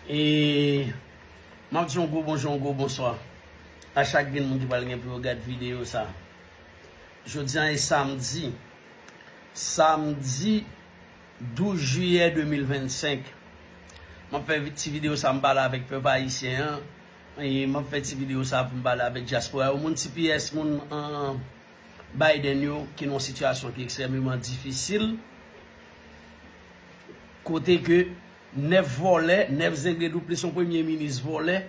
E map di yon gwo bonjou, yon gwo bonswa a chak grenn moun ki pral gen pou yo gad videyo sa. Jodi an e samdi, samdi 12 jiyè 2025. Map fè ti videyo sa m pale avèk pèp ayisyen an, e map fè ti videyo sa pou m pale avèk dyaspora yo, moun tps, moun Biden yo ki nan yon sitiyasyon ki ekstrememan difisil. Kote ke 9 vòlè, 9 zenglendou plis yon premye minis vòlè,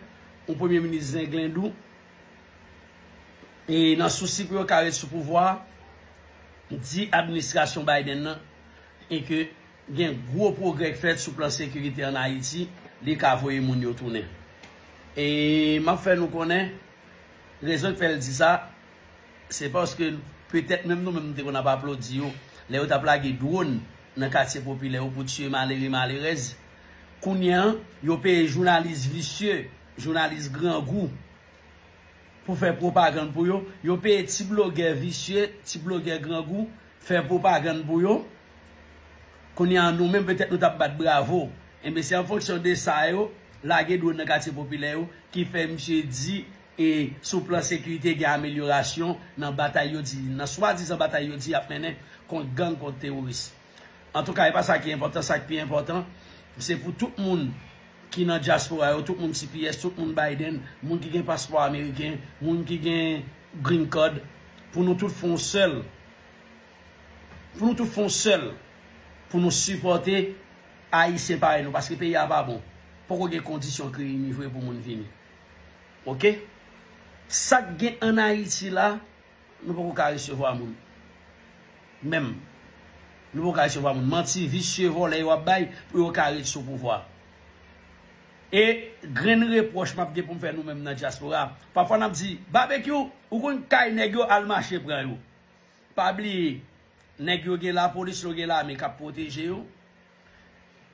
yon premye minis zenglendou, e nan sousi pou yo ka ret sou pouvwa, di administrasyon Biden nan e ke gen gwo pwogrè k fèt sou plan sekirite an Ayiti, li ka voye moun yo tounen. E map fè nou konnen rezon k fè l di sa. Se paske petèt menm nou menm nou te konn ap aplodi yo lè yo t ap lage dwòn nan katye popilè yo pou tiye malere malerèz. Kounye an, yo peye jounalis visye, jounalis grangou pou fè pwopagann pou yo. Yo peye ti blogè visye, ti blogè grangou fè pwopagann pou yo. Kounye an, nou menm petèt nou t ap bat bravo. Enben, se an fonksyon de sa yo lage dwòn nan katye popilè yo ki fè misye di. E sou plan sekirite gen amelyorasyon nan batay yo di, nan swadizan batay yo di y ap mennen kont gang, kont teworis. Antouka e pa sa ki enpòtan, sa k pi enpòtan se pou tout moun ki nan dyaspora yo, tout moun tps, tout moun Biden, moun ki gen paspò ameriken, moun ki gen green card, pou nou tout fon sèl, pou nou tout fon sèl pou nou sipòte Ayisyen parèy nou paske peyi a pa bon. Poko gen kondisyon kreye ni vre pou moun vini. Ok sak gen an ayiti la nou poko ka resevwa moun menm nou poko ka resevwa moun manti visye vòlè yo ap bay pou yo ka ret sou pouvwa e grenn repwòch map gen poum fè nou menm nan dyaspora pafwa nap di babekyou ou konn kay nèg yo al mache pran yo pa bliye nèg yo gen lapolis yo gen lame kap pwoteje yo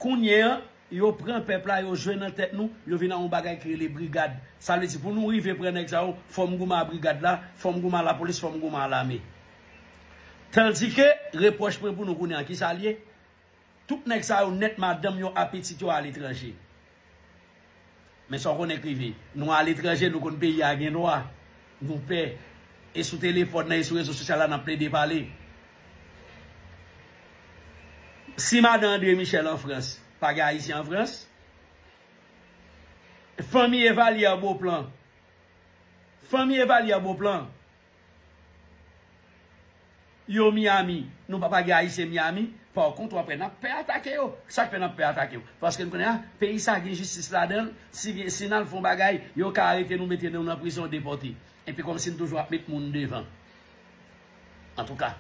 Kounye an, yo pran pèp la, yo jwe nan tèt nou, yo vin a yon bagay ki rele brigad. Sa vle di pou nou rive pran nèg sa yo, fò m goumen a brigad la, fò m goumen a lapolis, fò m goumen a lame. Tandike, repwòch mwen pou nou kounye an, ki sa l ye? Tout nèg sa yo nèt madanm yo a pitit yo a letranje. Men sa w konnen k rive nou aletranje, nou konn peyi a gen lwa, nou pè, e sou telefòn nan e sou rezo sosyal la n ap plede pale. Si madan Andre Michel an Frans, pa gen Ayisyen an Frans. Fanmi Evalière Beauplan, fanmi Evalière Beauplan. Yo Miami nou papa gen ayisyen Miami par kont wap wè nap pè atake yo sak fè nap pè atake yo paske nou konnen a peyi sa gen jistis ladanl si gen si nal fon bagay yo ka arete nou mete nou nan prizon depòte epi kòmsi nou toujou ap met moun devan antouka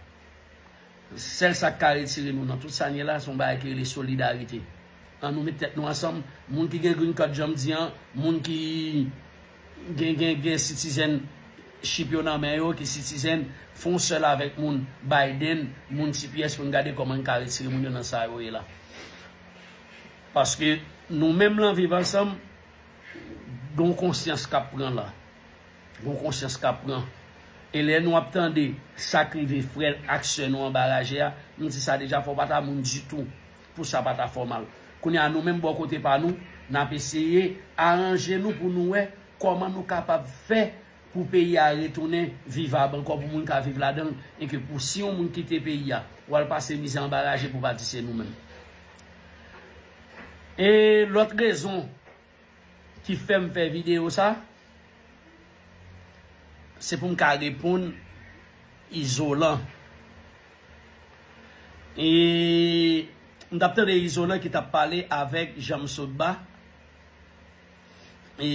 sèl sak ka retire nou nan tout sa nou ye la son bagay ki rele solidarite an nou met tèt nou ansanm moun ki gen green card janm di an moun ki. Gen gen gen sitizen ship yo nan men yo ki sitizen fon sèl avèk moun Biden moun tps poun gade kòman n ka retire moun yo nan sa yo ye la paske nou menm lan viv ansanm gon konsyans kap pran la gon konsyans kap pran e lè nou ap tande sak rive frè ak sè nou anba raje a nou di sa deja fò w pata moun ditou. Pou sa pa ta fò mal. Kounye a nou menm bò kote pa nou, n ap eseye aranje nou pou nou wè kòman nou kapab fè pou peyi a retounen vivab ankò pou moun ka viv ladan l e ke pou si yon moun kite peyi a pou al pase mizè anba raje pou pa di se nou menm. E lòt rezon ki fèm fè video sa se poum ka reponn izolan e m tap tande izolan ki tap pale avèk janmsotba e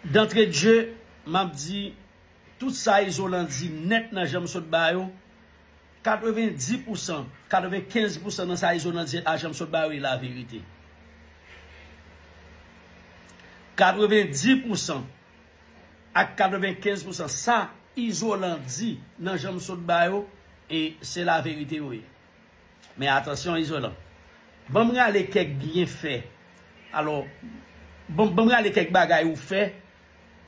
dantredje map di tout sa izolan di nèt nan janmsotba yo 90 pousan, 95 pousan nan sa izo nan di a janm sot ba yo e la verite. 90 pousan ak 95 pousan sa izolan di nan janm sot ba yo e se la verite yo ye. Men atansyon izolan. Banm rale kèk byen fè. Alo, banm rale kèk bagay ou fè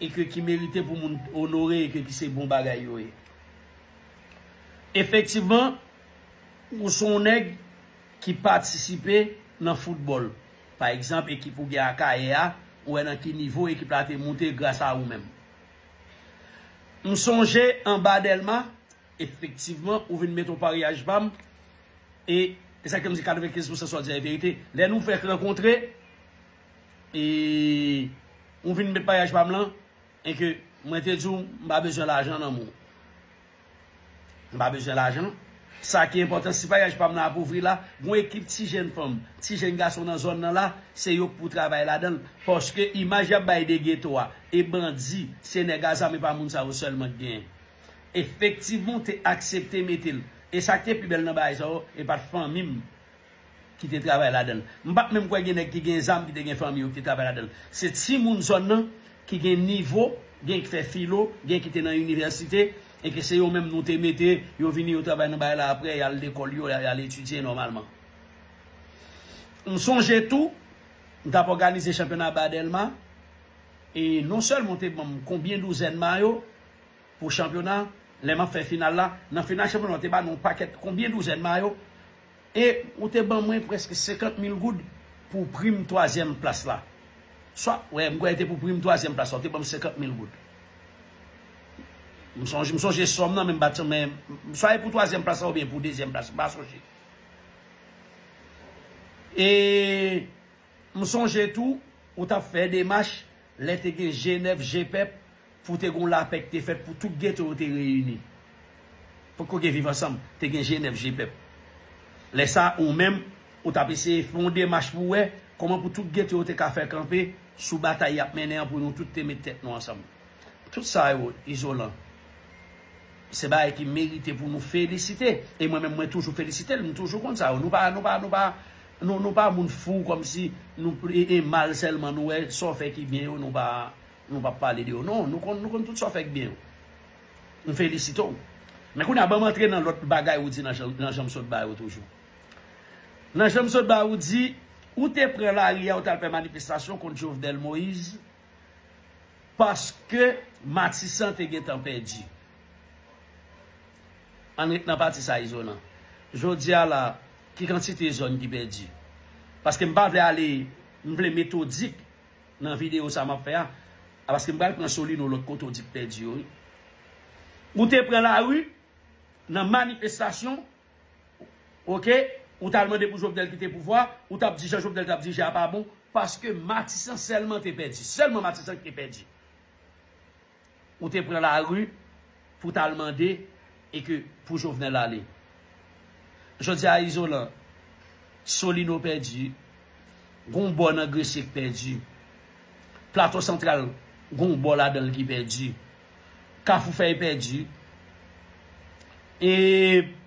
E ke ki merite pou moun onore e ke ki se bon bagay yo ye. Efektivman, ou se yon nèg ki patisipe nan foutbòl. Pa egzanp, ekip ou gen Akayè a, ou wè nan ki nivo ekip la te moute gras a ou menm. M sonje anba Dèlma, efektivman, ou vin met yon paryaj ba m, e se sa k fè m di 95 pousan sa w di a e verite, lè nou fèk rankontre, E ou vin met maryaj pa m lan e ke mwen te di w m pa bezwen lajan nan men w. M pa bezwen lajan. Sa ki enpòtan, si maryaj pa m lan ap ouvri la, gon ekip ti jenn fanm, ti jenn gason nan zòn nan la, se yo k pou travay ladan l. Paske imaj y ap bay de geto a e bandi, se nèg a zam e pa moun sa yo sèlman k genyen. Efektivman, w te aksepte mete l. E sa k te pi bèl nan bagay sa yo, e pa t fanmi m. ki te travay ladan l. M pa t menm kwè gen nèg ki gen zam ki te gen fanmi yo ki te travay ladan l. Se timoun zòn nan ki gen nivo, gen ki fè filo, gen ki te nan inivèsite e ke se yo menm nou te mete, yo vini yo travay nan bagay la aprè y al lekòl yo, y al etidye nòmalman. M sonje tou, m t ap òganize chanpyona ba Dèlma e non sèlman yo te ban m konbyen douzèn mayo pou chanpyona lè m ap fè final la. Nan final chanpyona yo te ba nou yon pakèt konbyen douzèn mayo E ou te ban mwen prèske 50 mil goud pou prim twazyèm plas la. Swa, wè, m kwè te pou prim twazyèm plas la, ou te ban m 50 mil goud. M sonje, m sonje sòm nan men m pa t, men, swa e pou twazyèm plas la oubyen pou dezyèm plas, m pa sonje. E m sonje tou, ou t ap fè demach lè te gen Jenèv, Jepep, Pou te gen yon lapè ki te fèt pou tout geto yo te reyini. Potko gen viv ansanm, te gen Jenèv Jepèp. Lè sa a, ou menm, ou t ap eseye fè yon demach pou wè kòman pou tout geto yo te ka fè kanpe sou batay y ap mennen an pou nou tout te met tèt nou ansanm. Tout sa yo, Izolan, se bagay ki merite pou nou felisite. E mwen menm mwen toujou felisite l, m toujou konn sa yo. Nou pa, nou pa, nou pa, nou pa moun fou kòmsi nou e mal sèlman nou wè sa w fè ki byen yo nou pa. Nou pap pale de yo non. Nou konn nou konn tout sa w fè k byen yo. M felisite w. Men kounye a ban m antre nan lòt bagay ou di nan jan m sot ba yo toujou. Nan jan m sot ba ou di ou te pran lari a ou t al fè manifestasyon kont Jovenel Moise paske Matisan te gentan pèdi. An n ret nan pati sa Izolan. Jodi a la ki kantite zòn ki pèdi? Paske m pa vle ale m vle metodik Nan video sa map fè a paske m pral pran Solino lòt kote w di k pèdi yo wi. Ou te pran lari nan manifestasyon ok ou t al mande pou Jovenel kite pouvwa ou tap di jan Jovenel tap dirije a pa bon paske Matisan sèlman te pèdi sèlman Matisan ki te pèdi. Ou te pran la rue pou ta al mande e ke pou Jovenel ale. Jodi a Izolan, Solino pèdi, gon bò nan Gresye k pèdi. Plato Santral gon bò ladan l ki pèdi. Kafoufèy pèdi. E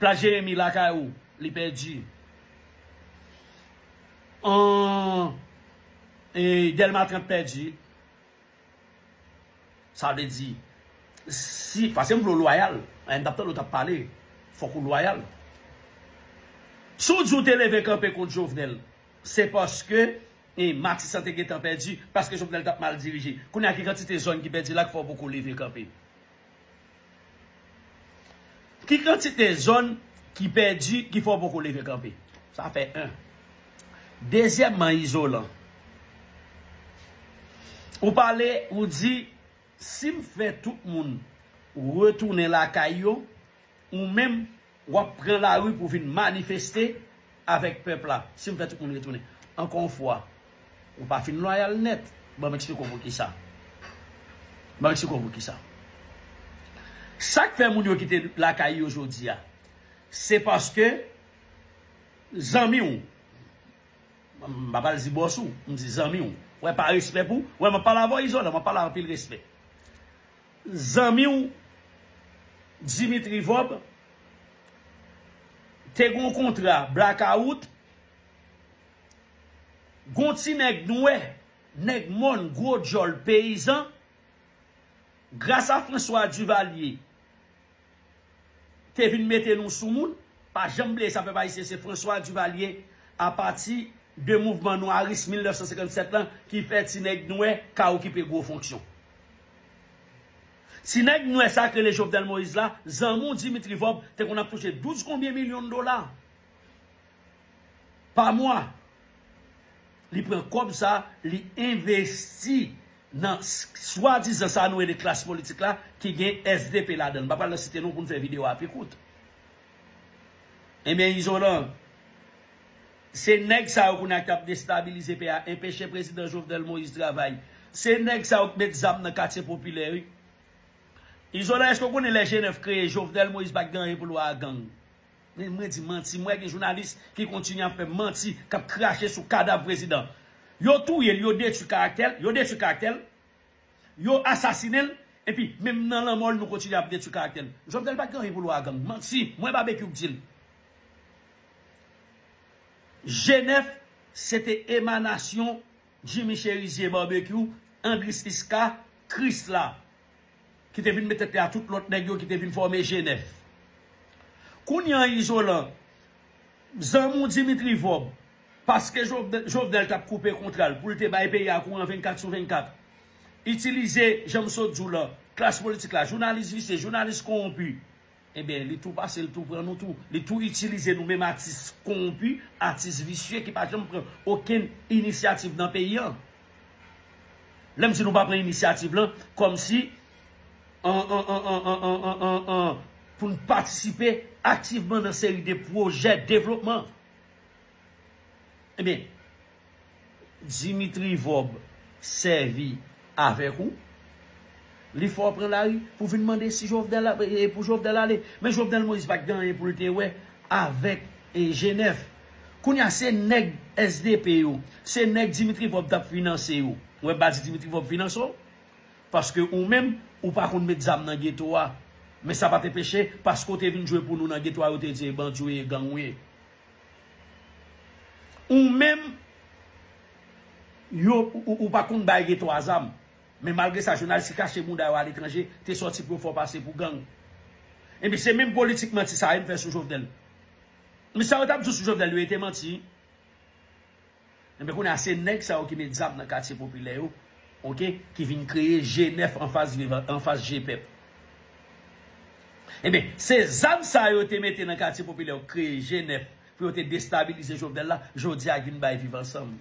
Plas Jeremi lakay ou li pèdi. An e Dèlma 30 pèdi. Sa vle di, si, paske m vle w lwayal, m t ap tande w t ap pale, fòk ou lwayal. Si w di w te leve kanpe kont Jovenel, se paske Matisan te gentan pèdi, paske Jovenel t ap mal dirije. Kounye a ki kantite zòn ki pèdi la ki fè w poko leve kanpe? Ki kantite zòn ki pèdi ki fè w poko leve kanpe? Sa fè 1. Dezyèmman izolan. Ou pale, ou di, si m fè tout moun retounen lakay yo, ou menm Wap pran lari pou vin manifeste avèk pèp la. Si m fè tout moun retounen. Ankò yon fwa, ou pa fin lwayal nèt. Ban m eksplike w poukisa. Ban m eksplike w poukisa. Sa k fè moun yo kite lakay yo jodi a, se paske zanmi w, m pa pral di bòs ou, m di zanmi w, wè pa respè pou, wè m ap pale avè w Izolan, m ap pale anpil respè. Zanmi w Dimitri Vob te gen yon kontra blakawout, gen yon ti nèg nwè, nèg mòn, gwo djòl, peyizan, gras a François Duvalier, te vin mete nou sou moun, pa janm bliye sa pèp ayisyen se François Duvalier a pati de mouvman nwaris 1957 lan ki fè ti nèg nwè ka okipe gwo fonksyon. Ti nèg nwè sa k rele Jovenel Moïse la, zanmi w Dimitri Vorbe te konn ap touche 12 konbyen milyon dola. pa mwa. Li pran kòb sa a, li envesti nan swadizan sa nou rele klas politik la ki gen svp ladan l. M pa pral nan site non pou n fè videyo a pi kout. Enben Izolan, se nèg sa yo kounye a k ap destabilize peyi a, enpeche prezidan Jovenel Moïse travay. Se nèg sa yo k met zam nan katye popilè wi. Izolan èske w konnen lè Jenèf kreye Jovenel Moïse pa t gen anyen pou l wè a gang? Men mwen di manti mwen gen jounalis ki kontinye ap fè manti kap krache sou kadav prezidan yo touye l yo detwi karaktè l yo detwi karaktè l yo asasinen l epi menm nan lanmò l nou kontinye ap detwi karaktè l Jovenel pat gen anyen pou l wè a gang manti mwen Babekyou k di l Jenèf se te emanasyon Jimmy Cherizier Babekyou Andris Iska Krisla. ki te vin met tèt li a tout lòt nèg yo ki te vin fòme G9. Kounye an Izolan, zanmi w Dimitri Vorbe, paske Jovenel t ap koupe kontra l pou l te bay peyi a kouran 24 sou 24, itilize, jan m sot di w lan, klas politik la, jounalis visye, jounalis kowonpi, Enben, li tou pase, li tou pran nou tou. Li tou itilize nou menm atis kowonpi, atis visye ki pa janm pran okenn inisyativ nan peyi an. Lè m di nou pa pran inisyativ lan, kòmsi pou n patisipe aktivman nan seri de pwojè devlopman. Enben. Dimitri vob sèvi avèk ou Li fè w pran lari pou vin mande si Jovenel ap e pou Jovenel ale Men Jovenel Moïse pat gen anyen pou l te wè avèk e Genèf Kounye a se nèg sdp yo se nèg Dimitri vob tap finanse yo Ou wè bandi Dimitri vob finanse w Paske ou menm ou pa konn met zam nan geto a Men sa pat enpeche paske w te vin jwe pou nou nan geto a yo te di e bandi w ye e gang ou ye Ou menm yo ou pa konn bay gen 3 zam. Men malgre sa jounalis ki kache bouda yo aletranje te sòti pou yo fè w pase pou gang. Ebyen se menm politik manti sa yo m fè sou Jovenel. Men sa yo t ap di w sou Jovenel yo e te manti. Ebyen kounye a se nèg sa yo ki met zam nan katye popilè yo ok ki vin kreye je nèf anfas viv anfas je pèp ebyen se zam sa yo te mete nan katye popilè yo kreye je nèf pou yo te destabilize Jovenel la jodi a vin bay viv ansanm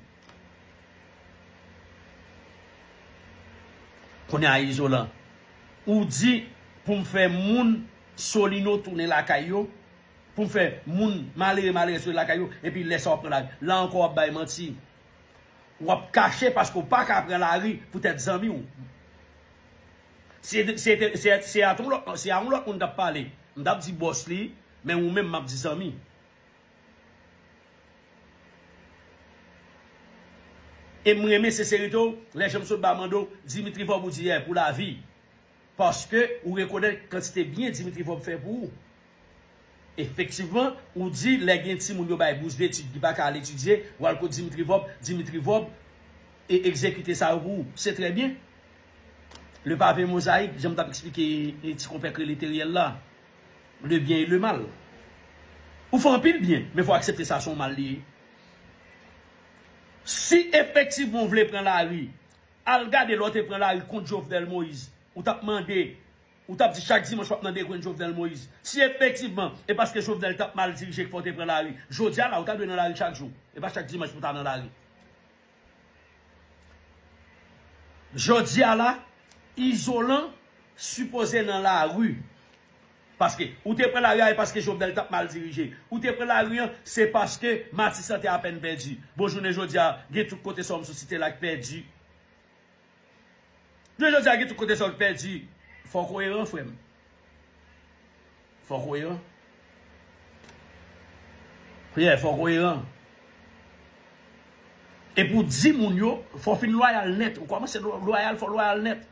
kounye a izolan ou di pou m fè moun solino tounen lakay yo. Pou fè moun malere malerès rete lakay yo epi lè sa wap pran lari. La ankò wap bay manti. Wap kache paske w paka pran lari poutèt zanmi w. Si a yon lòt moun tap pale, m tap di bòs li, men ou menm map di zanmi. E m renmen senserite w, lè janm sot ba mande w, Dimitri Vorbe ou di yè pou lavi. Paske ou rekonèt kantite byen Dimitri Vorbe fè pou ou. Efektivman, ou di lè gen timoun yo bay bous detid ki pa ka al etidye, ou al kot Dimitri Vorbe, Dimitri Vorbe e egzekite sa yo pou ou. Se trè byen. Le pavé mosaïque, jan m t ap eksplike ti konpè k rele Theriel la, le bien et le mal. Ou fè anpil byen, men fò w aksepte sa se yon mal li ye. Si efektivman ou vle pran lari Al gade lè w te pran lari kont Jovenel Moise, ou tap mande, ou tap di chak dimanch wap nan degwenn Jovenel Moise. Si efektivman e paske Jovenel tap mal dirije ki fè w te pran lari, jodi a la ou ta dwe nan lari chak jou, e pa chak dimanch pou ta nan lari. Jodi a la, Izolan sipoze nan lari. Paske ou te pran lari a e paske Jovenel tap mal dirije. Ou te pran lari an se paske Matisan te apèn pèdi. Bon jounen jodi a gen tout kote sa w m sou site la k pèdi. Jounen jodi a gen tout kote sa w k pèdi. Fò w koyeran frè m. Fò w koyeran. Yè fò w koyeran. E pou w di moun yo fò w fin lwayal nèt. Ou kòmanse lwayal fò w lwayal nèt.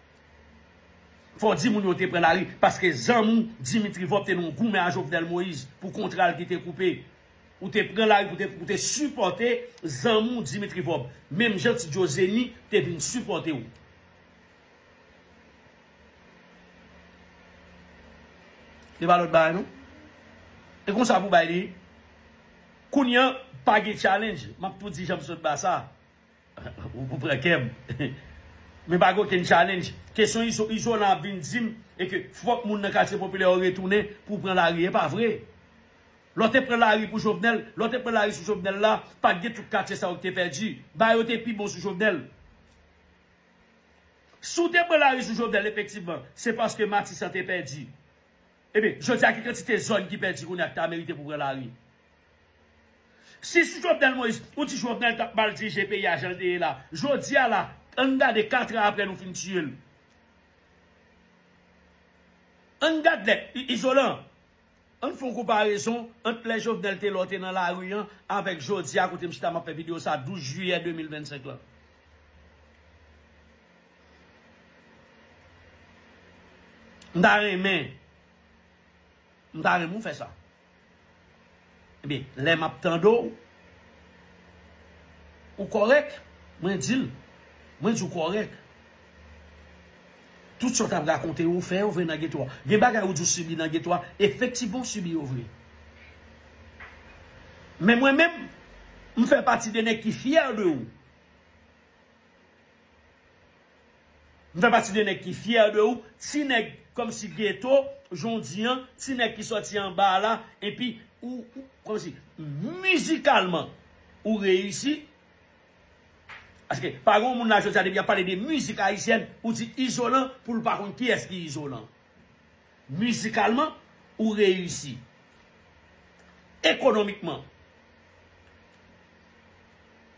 Fò di moun yo te pran lari paske zanmi Dimitri Vorbe te nan yon goumen a Jovenel Moïse pou kontra l ki te koupe. Ou te pran lari pou te pou te sipòte zanmi w Dimitri Vorbe. Menm jan Ti Djo Zeni te vin sipòte w. Se pa lòt bagay non. E konsa pou bay li. Kounye an, pa gen challenge. M ap tou di jan m sot ba sa. Ou pran kèm. Men pa gen okenn challenge. Kesyon Izolan ap vin di m e ke fòk moun nan katye popilè yo retounen pou pran lari. E pa vre. Lè w te pran lari pou Jovenel, lè w te pran lari sou Jovenel la, pa t gen tout katye sa yo ki te pèdi. Ba yo te pi bon sou Jovenel. Si w te pran lari sou Jovenel efektivman, se paske Matisan te pèdi. Ebyen, jodi a ki kantite zòn ki pèdi kounye a ki ta merite pou pran lari? Si sou Jovenel Moïse, ou di Jovenel tap mal dirije peyi a jan l te ye la, jodi a la, an n gade 4 tran aprè nou fin tiye l. An n gad lè, Izolan, an n fè yon konparezon ant lè Jovenel te la w te nan lari an avèk jodi a kote m chita m ap fè videyo sa 12 jiyè 2025 lan. M ta renmen m ta renmen w fè sa. Ebyen lè m ap tande w ou kòrèk mwen di l mwen di w kòrèk. Tout sa w t ap rakonte yo ou fè yo vre nan geto a. Gen bagay ou di w sibi nan geto a efektivman w sibi yo vre. Men mwen menm m fè pati de nèg ki fyè de ou. M fè pati de nèg ki fyè de ou, ti nèg kòmsi geto jan w di an, ti nèg ki sòti anba a la, epi ou kòmsi mizikalman ou reyisi, paske pa gen yon moun la jodi a depi y ap pale de mizik ayisyèn ou di Izolan pou l pa konn kiyès ki Izolan. Mizikalman, ou reyisi. Ekonomikman,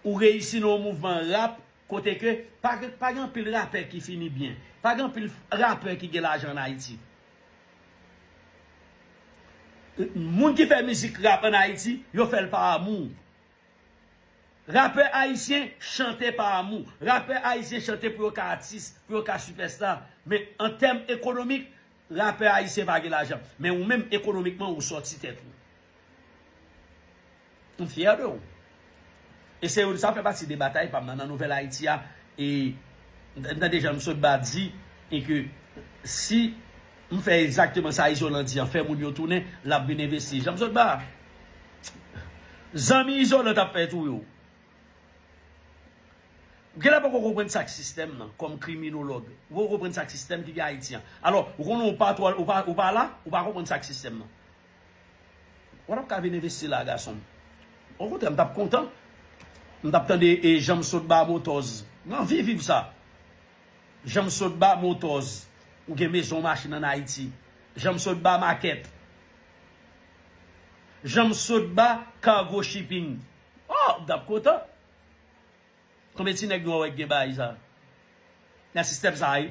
ou reyisi nan yon mouvman rap kote ke pa gen anpil rapè ki fini byen. Pa gen anpil rapè ki gen lajan an Ayiti. Moun ki fè mizik rap an Ayiti, yo fè l pa amou. Rapè ayisyen chante pa amou. Rapè ayisyen chante pou yo ka atis, pou yo ka sipèsta. Men an tèm ekonomik, rapè ayisyen pa gen lajan. Men ou menm ekonomikman ou sòti tèt ou. M fyè de ou. E se yo sa fè pati de batay pa m nan nan Nouvèl Ayiti a. E m tande jan misye Odba di e ke si M fè egzakteman sa Izolan di an, fè moun yo tounen, l ap vin envesti. Janm sot ba? Zanmi Izolan t ap fè touye w. Ou genlè poko konprann sa k sistèm nan, kòm kriminolog. Ou poko konprann sa k sistèm ki gen Ayiti an. Alò, ou konnen ou pa twò, ou pa la, ou pa konprann sa k sistèm nan. Ou pa t ap ka vin envesti la a gason m. Okontrè, m t ap kontan. M t ap tande Janm sot ba Motòz. M anvi viv sa. Janmsotba motors ou gen maison machine an Haiti Janmsotba market Janmsotba cargo shipping oh m tap kontan konbyen ti nèg nwa wè ki gen baay sa nan system sa wi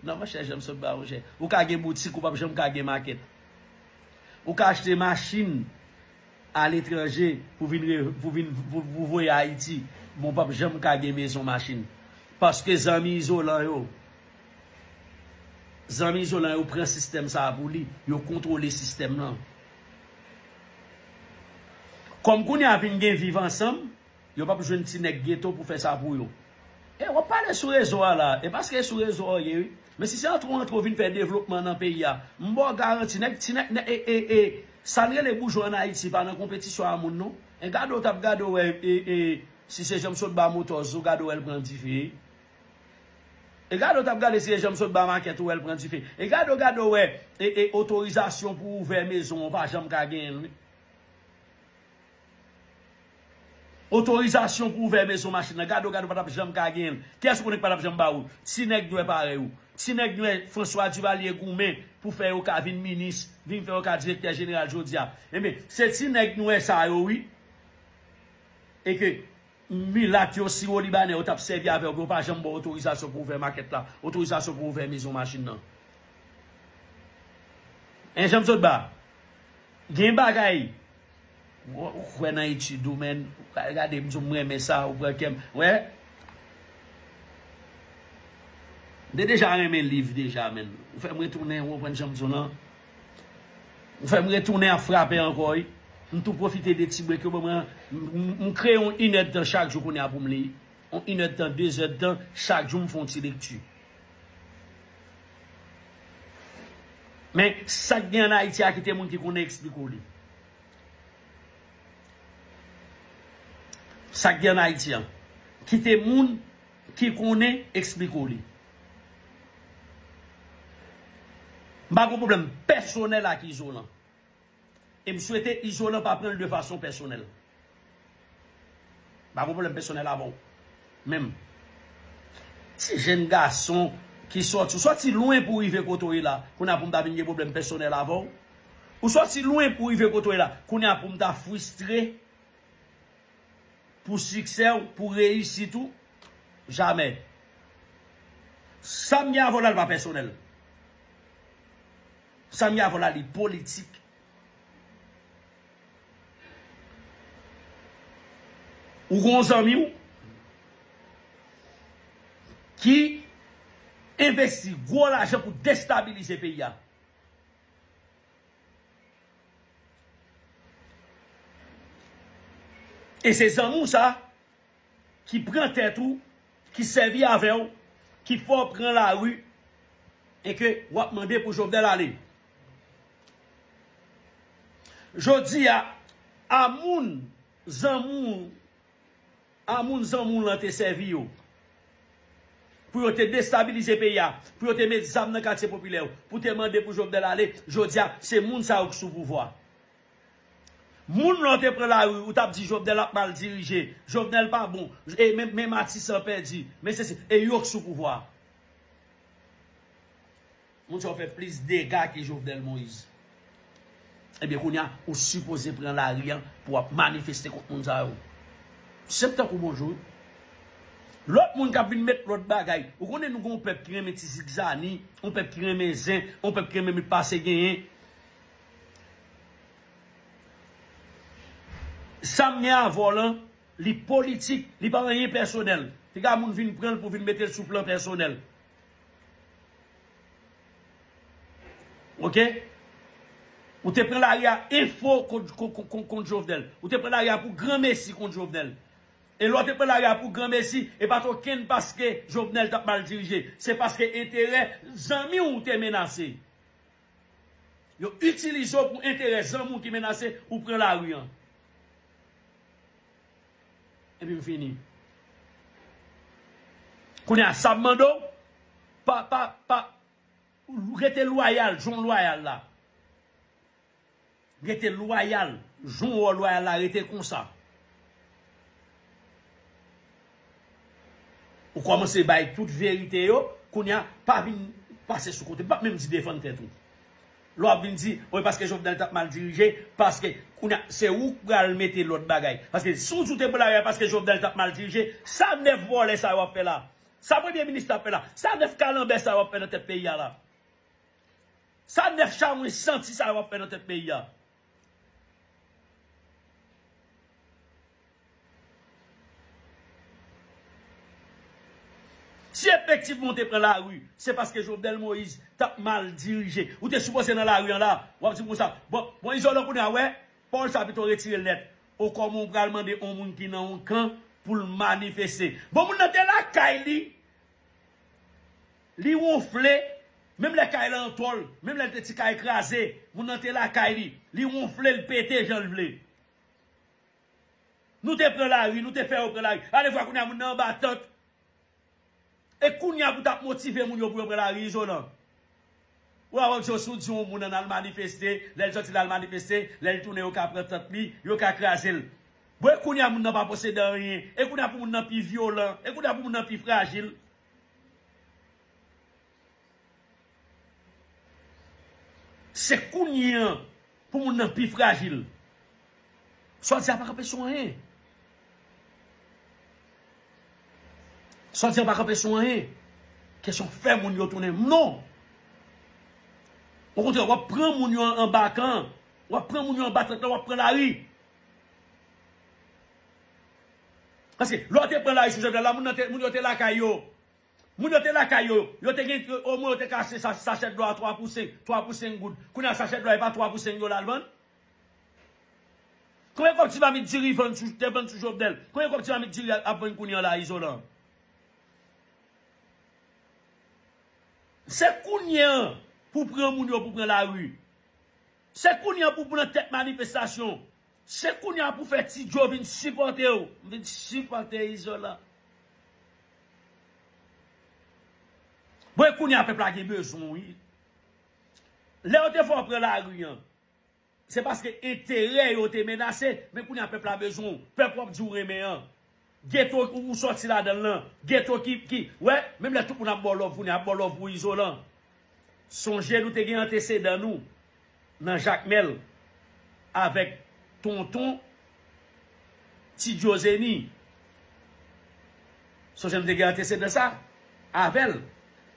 nan monchè Janmsotba monchè ou ka gen boutique ou pap janm ka gen market ou ka achte machine aletranje pou vin pou vin pou voye ayiti men w pap janm ka gen mezon machin paske zanmi izolan yo zanmi izolan yo pran sistèm sa pou li yo kontwole sistèm lan kòm kounye a vin gen viv ansanm Yo pap jwenn ti nèg ghetto pou fè sa pou yo. E wap pale sou rezo a la. E paske e sou rezo a ou ye wi. Men si se antre ou antre ou vin fè devlopman nan peyi a. M ba w garanti nèg ti nèg nèg e e sa n rele boujwa an Ayiti pa nan konpetisyon a moun non. E gade w tap gade w wè e e si se jan m sot ba motors ou gade w wè l pran dife. E gade w tap gade si se jan m sot ba makèt ou wè l pran dife. E gade w gade w wè e e otorizasyon pou ouvè mezon an ou pa janm ka genyen l wi. Otorizasyon pou ouvè mezon machin nan gade ou gade ou patap janm ka genyenl kiyès ou konnen ki patap janm ba oul ti nèg nwè parèy ou ti nèg nwè François Duvalier goumen pou fè yo ka vin minis vin fè yo ka direktè jeneral jodia enben se ti nèg nwè sa yo wi e ke milat yo siwolibanè yo tap sèvi avèw pou yo pa janm baw otorizasyon pou ouvè makèt la otorizasyon pou ouvè mezon machin nan hein janm sot ba gen bagay. Ou kwè nan etude ou menn. Gade m di w m renmen sa ou pran kè m. Wè. M te deja renmen liv deja menn. Ou fè m retounen ou konprann jan m di w lan. Ou fè m retounen ap frape ankò wi. M tou pwofite de ti brek yo ban mwen an. M kreye yon inèdtan chak jou kounye a pou m li. Yon inèdtan dezèdtan chak jou m fè yon ti lekti. Men sak gen an Haiti a kite moun ki konnen explique li. Sak gen an Haiti a kite moun ki konnen explique li. M pa gen pwoblèm pèsonèl ak Izolan. E m swete Izolan pa pranl de fason pèsonèl. M pa gen pwoblèm pèsonèl avè w. Men, ti jenn gason ki sòti, ou sòti lwen pou w rive kote w ye la, kounye a pou m ta vin gen pwoblèm pèsonèl avè w? Ou sòti lwen pou w rive kote w ye la, kounye a pou m ta fristre pou siksè w, pou reyisit ou? Jamè. Sa m gen avè w la l pa pèsonèl. Samy avon la li politik. Ou gon zanmi w ki envesti gwo lajan pou destabilize peyi a. E se zanmi w sa. ki pran tèt ou, ki sèvi avè w, ki fè w pran lari, e ke w ap mande pou Jovenel ale. Jodi a, a moun zanmi w, a moun zanmi w lan te sèvi yo, pou yo te destabilize peyi a, pou yo te met zam nan katye popilè yo, pou te mande pou Jovenel ale, jodi a, se moun sa yo ki sou pouvwa. Moun lè w te pran lari ou tap di jovenel ap mal dirije jovenel pa bon e men matisan pèdi men sesi e yok sou pouvwa moun sa yo fè plis dega ke jovenel moise ebyen kounya ou sipoze pran lari an pou wap manifeste kont moun sa yo sep tankou bonjou lòt moun kap vin met lòt bagay ou konnen nou gon pèp ki renmen ti zigzani yon pèp ki renmen zen yon pèp ki renmen met pase genyen. Sam gen a volan li politik li pa anyen pèsonèl piga moun vin pranl pou vin metel sou plan pèsonèl ok ou te pran lari a enfo kont jovenel ou te pran lari a pou gran mesi kont jovenel e lè ou te pran lari a pou gran mesi e pat okenn paske jovenel tap mal dirije se paske enterè zanmiw ou te menase Yo itilize w pou enterè zanmi w ki menase ou pran lari an. Epi m fini. Kounye a sa m mande w, pa, pa, pa, rete lwayal jan w lwayal la. Rete loyal jan w loyal la rete konsa. Ou kòmanse bay tout verite yo, kounye a pa vin pase sou kote. M pap menm di defann tèt ou. Lè w ap vin di, o paske Jovenel t ap mal dirije, paske kounye a se ou k pral mete lòt bagay. Paske si w di w te pou lari a paske Jovenel t ap mal dirije, sa 9 vòlè sa yo ap fè la? Sa premye minis la ap fè la? Sa 9 kalanbè sa yo ap fè nan tèt peyi a la? Sa 9 chawony santi sa yo ap fè nan tèt peyi a. Si efektivman ou te pran lari se paske Jovenel Moïse tap mal dirije. Ou te sipoze nan lari an la. Wap dim konsa. Bon, bon Izolan kounye a wè, pawòl sa pito retire l nèt. O kòman ou pral mande yon moun ki nan yon kan pou l manifeste. Bon moun nan te lakay li. Li wonfle, menm lè kay lan antòl, menm lè l te ti kay kraze, moun nan te lakay li, li wonfle, l pete jan l vle. Nou te pran lari, nou te fè yo pran lari. Alevwa kounye a moun nan anba tant. E kounye a pou t ap motive moun yo pou yo pran lari izolan. Ou a wè Djo si w di yon moun an al manifeste, lè l sòti l al manifeste, lè l tounen yo ka pran tant li, yo ka kraze l. Bon e kounye a moun nan pa posede anyen, e kounye a pou moun nan pi vyolan, e kounye a pou moun nan pi frajil. Se kounye an pou moun nan pi frajil. Sa w di a pa kanpe sou anyen. Sa w di a pa kanpe sou anyen. Kesyon fè moun yo tounen moun non. Ou kontre wap pran moun yo an ba kan. Wap pran moun yo an ba trèt la wap pran lari. Paske lè w te pran lari sou Jovenel la, moun yo te lakay yo. Moun yo te lakay yo. Yo te gen, omwen yo te ka achte sachè dlo a 3 pou 5, 3 pou 5 goud. Kounye a sachè dlo a e pa 3 pou 5 yo l al vann? Konbyen kòb ti mamit diri vann sou, te vann sou Jovenel? Konbyen kòb ti mamit diri ap vann kounye an la Izolan? Se kounye an pou pran moun yo pou pran lari. Se kounye an pou pran tèt manifestasyon. Se kounya pou fè ti djo vin sipòte w. M vin sipòte izolan. Bon e kounya pèp la gen bezwen w wi. Lè yo te fè w pran lari an. Se paske enterè yo te menase. Men kounya pèp la bezwen w. Pèp wap di w renmen an. Ghetto ou soti ladanl lan. Ghetto ki ki wè menm lè tout moun ap baw love kounye a ap baw love pou izolan. Sonje nou te gen antesedan nou nan jakmel avèk tonton tidiozeni sonje nou te gen antesedan sa avèl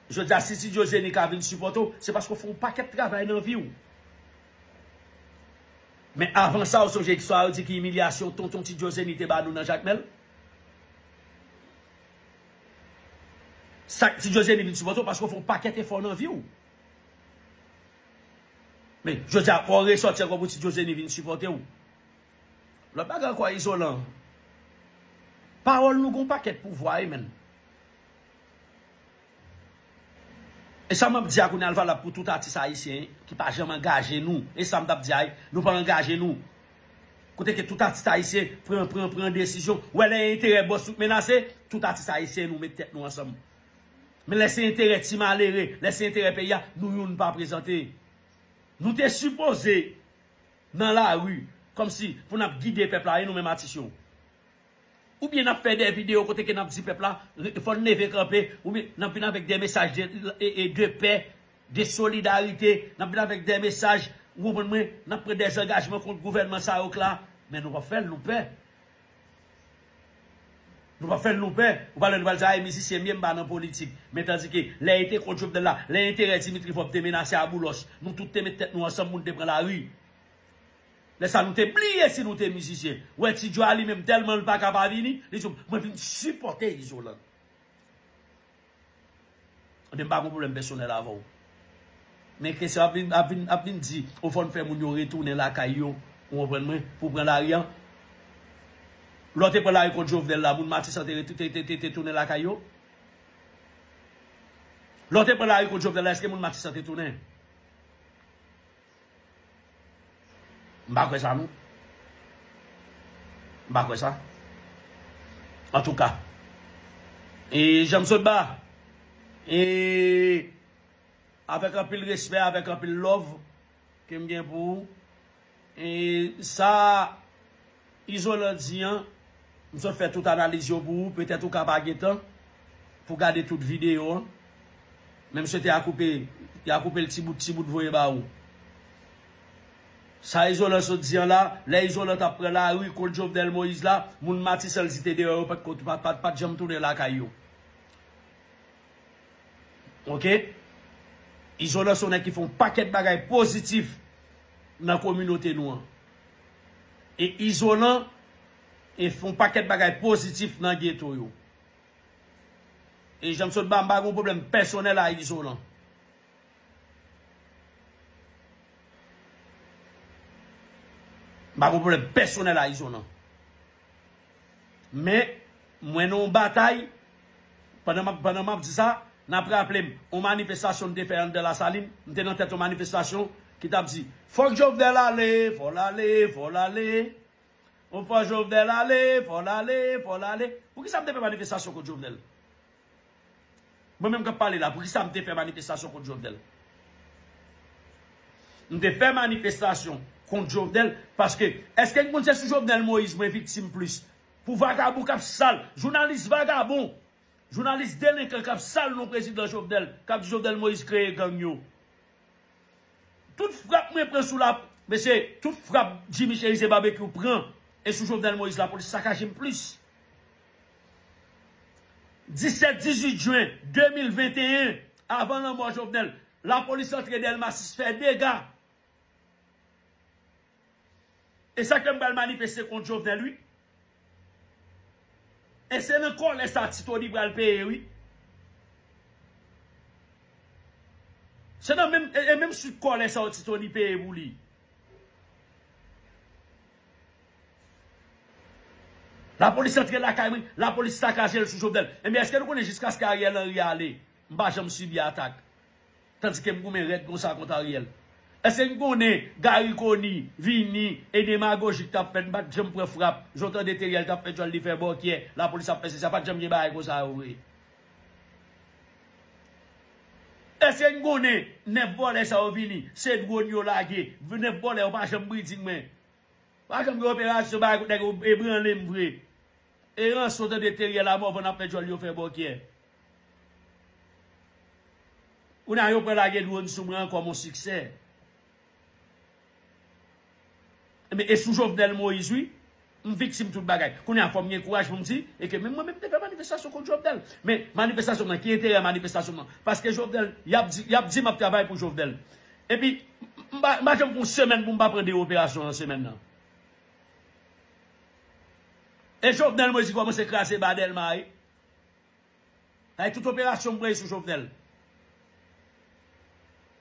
jodi a si tidiozeni ka vin sipòte w se paske w fè yon pakèt travay nan vi w Men avan sa ou sonje istwa yo di ki imilyasyon tonton ti Joe Zeni te ba nou nan Jakmèl? Sak ti Joe Zeni vin sipòte w paske ou fè yon pakèt efò nan vi w. Men jodi a fò w resòti ankò pou ti Joe Zeni vin sipòte w. Lòt bagay ankò Izolan, pawòl nou gen yon pakèt pouvwa wi menn. E sa map di a kounya l valab pou tout atis ayisyen ki pa janm angaje nou e sa m tap di a wi nou pa angaje nou kote ke tout atis ayisyen pran pran pran desizyon ou wè lè enterè bòs nou k menase tout atis ayisyen nou met tèt nou ansanm men lè se enterè ti malere lè se enterè peyi a nou youn pa prezante nou te sipoze nan lari kòmsi pou nap gide pèp la e nou menm atis yo. Ou byen nap fè dè video kote ke nap di pèp la fòn leve kanpe, ou byen nap vin avèk dè mesaj de pè, de solidarite, nap vin avèk dè mesaj, ou konprann mwen, nap pran dè zangajman kont gouvènman sa yo k la, men nou pap fèl, nou pè. Nou pap fèl nou pè. Ou pale nou pral di a e mizisyen byen ba nan politik. Men tandi ke lè e te kont Jovenel la, lè enterè Dimitri Vorbe te menase a Boulos, nou tout te met tèt nou ansanm pou nou te pran lari. Lè sa nou te bliye si nou te mizisyen. Wè Ti Djwa li menm tèlman l pa ka pa vini, li di m, mwen vin sipòte Izolan. Ebyen m pa gon pwoblèm pèsonèl avè w. Men kesyon ap vin ap vin ap vin di ou fò n fè moun yo retounen lakay yo, ou konprann mwen, pou w pran lari an. Lè w te pran lari kont Jovenel la, moun Matisan te re te te te tounen lakay yo? Lè w te pran lari kont Jovenel la èske moun Matisan te tounen? M pa kwè sa non. M pa kwè sa. Antouka. E janm sot ba. E avèk anpil respè, avèk anpil love ke m gen pou ou. E sa. Izolan di an, m sot fè tout analiz yo pou ou, petèt ou ka pa gen tan pou gade tout videyo an, men m swete a koupe, y a koupe l ti bout ti bout voye ba ou. Sa Izolan sot di an la, lè Izolan t ap pran lari kont Jovenel Moïse la, moun Matisan l si te deyò yo pa t pa t janm tounen lakay yo. Ok. Izolan se yon nèg ki fè yon pakèt bagay pozitif nan kominote nou an. e izolan e fè yon pakèt bagay pozitif nan geto yo. E jan m sot ba, m pa gen yon pwoblèm pèsonèl a izolan. M pa gen yon pwoblèm pèsonèl a izolan. Men, mwen nan yon batay, pandan m ap di sa, n ap raple m yon manifestasyon m te fè anndan Lasalin, m te nan tèt yon manifestasyon ki t ap di, Fòk Jovenel ale, fò l ale, fò l ale, O fò Jovenel ale, fò l ale, fò l ale. Poukisa m te fè manifestasyon kont Jovenel? Mwen menm kap pale la poukisa m te fè manifestasyon kont Jovenel? M te fè manifestasyon kont Jovenel paske eske n konn se sou Jovenel Moïse mwen viktim plis pou vagabon kap sal, jounalis vagabon, jounalis delenkan kap sal non prezidan Jovenel, kap di Jovenel Moïse kreye gang yo. Tout frap mwen pran sou la, mesye, tout frap Jimmy Cherizier Barbecue pran e sou Jovenel Moïse lapolis sakaje m plis. 17 18 jen 2021 avan lanmò Jovenel lapolis antre Delma 6 fè dega e sa k fè m pral manifeste kont Jovenel wi e se nan kòlè sa ti Tony pral peye wi se nan menm e menm swit kòlè sa ti Tony peye pou li. La police antre lakay mwen, la police sakaje l sou Jovenel. Ebyen eske nou konnen jiskaske Ariel Henry ale, m pa janm sibi atak. Tandike m goumen rèd konsa kont Ariel. Eske n konnen Garry Conille vini e demagoji k t ap fèt m pa t janm pran frap, jan w tande Theriel t ap fè djòl li fè bòkyè, la police ap fè sesa, pa t janm gen bagay konsa yo vre. Eske n konnen 9 vòlè sa yo vini se drone yo lage 9 vòlè yo pa janm breeding men pa janm gen operasyon bagay kout nèg yo ebranle m vre e ranson tande Theriel a Morvan ap fè djòl yo fè bòkyè kounye a yo pran lage drone sou mwen ankò mon siksè Ebyen e sou Jovenel Moïse wi m viktim tout bagay. Kounye a fò m gen kouraj pou m di e ke menm mwen menm m te fè manifestasyon kont Jovenel. Men manifestasyon m nan ki enterè manifestasyon m nan? Paske Jovenel yap di yap di map travay pou Jovenel. Epi m pa m pa janm fè yon semèn pou m pa pran 2 operasyon nan semèn nan. E Jovenel Moïse ki kòmanse kraze ba Dèlma a wi. Bay tout operasyon mwen sou Jovenel.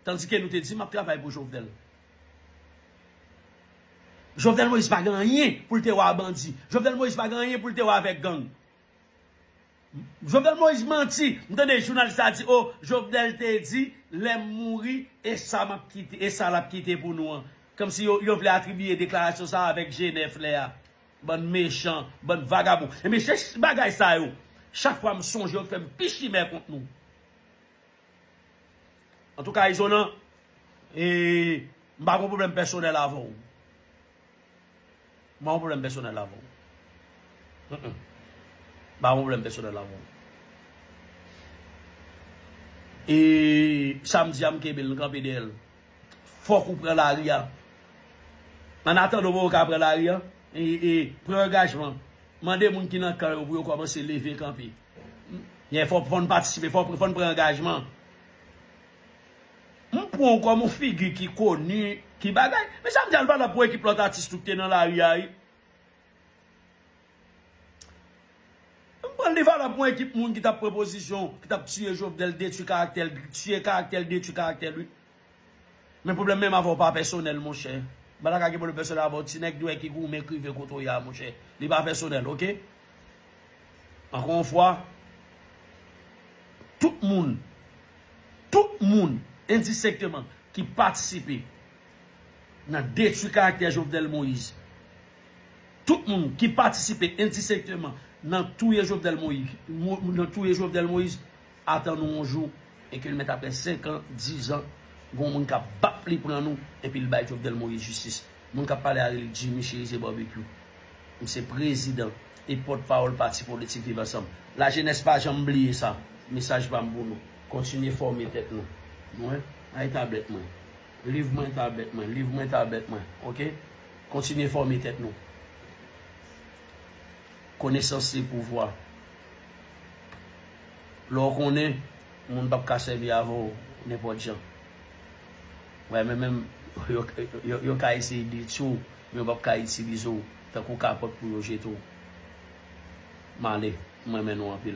Tandike nou te di map travay pou Jovenel. Jovenel Moïse pa gen anyen pou l te wè a bandi. Jovenel Moïse pa gen anyen pou l te wè avèk gang. Jovenel Moïse manti. M tande jounalis la di oh Jovenel te di lè m mouri e sa map kite e sa lap kite pou nou an. Kòmsi yo vle atribiye deklarasyon sa avèk Genève lè a. Bann mechan, bann vagabon. Ebyen se bagay sa yo, chak fwa m sonje yo k fè m pi chimè kont nou. Antouka Izolan, m pa gon pwoblèm pèsonèl avè w. M pa gon pwoblèm pèsonèl avè w. M pa gon pwoblèm pèsonèl avè w. E sa m di a m kenbe l, m kanpe dèyè l. Fok ou pran lari a. An atandan pou ou ka pran lari a, pran angajman. Mande moun ki nan kan yo pou yo komanse leve kanpe. Fok nou patisipe, fok nou pran angajman. M pran ou kom yon figi ki koni, ki bagay. Mezanmi al pale pou ekip lot atis tou ki te nan lari a. M pran li valab pou yon ekip moun ki tap pran pozisyon, ki tap tiye Jovenel, detwi karaktè l, tiye karaktè l, detwi karaktè l wi. Men pwoblèm menm avè w pa pèsonèl monchè. M pa ta ka gen pwoblèm pèsonèl avè w ti nèg dwè ki goumen k rive kote w ye a monchè. Li pa pèsonèl ok. Ankò yon fwa, tout moun, tout moun endisekteman ki patisipe nan detwi karaktè Jovenel Moïse. Tout moun ki patisipe endisekteman nan touye Jovenel Moïse, nan touye Jovenel Moïse, atan nou yon jou e ke l mèt aprè 5 an, 10 an, gon moun kap bat li pran nou e pi l bay Jovenel Moïse jistis. Moun kap pale a rele Jimmy Cherizier Barbecue. M se prezidan e pòt pawòl pati politik Viv Ansanm. La jenès pa janm bliye sa. Mesaj pa m pou nou. Kontinye fòme tèt nou. Mwen, ay tablèt mwen. Live mwen ta bèt mwen. Live mwen ta bèt mwen. Ok. Kontinye fòme tèt nou. Konesans se pouvwa. Lè w konnen, moun pap ka sèvi avè w nenpòt jan. Wè men menm yo ka eseye detwi w, men yo pap ka itilize w tankou kapòt pou yo jete w. M ale. M renmen nou anpil.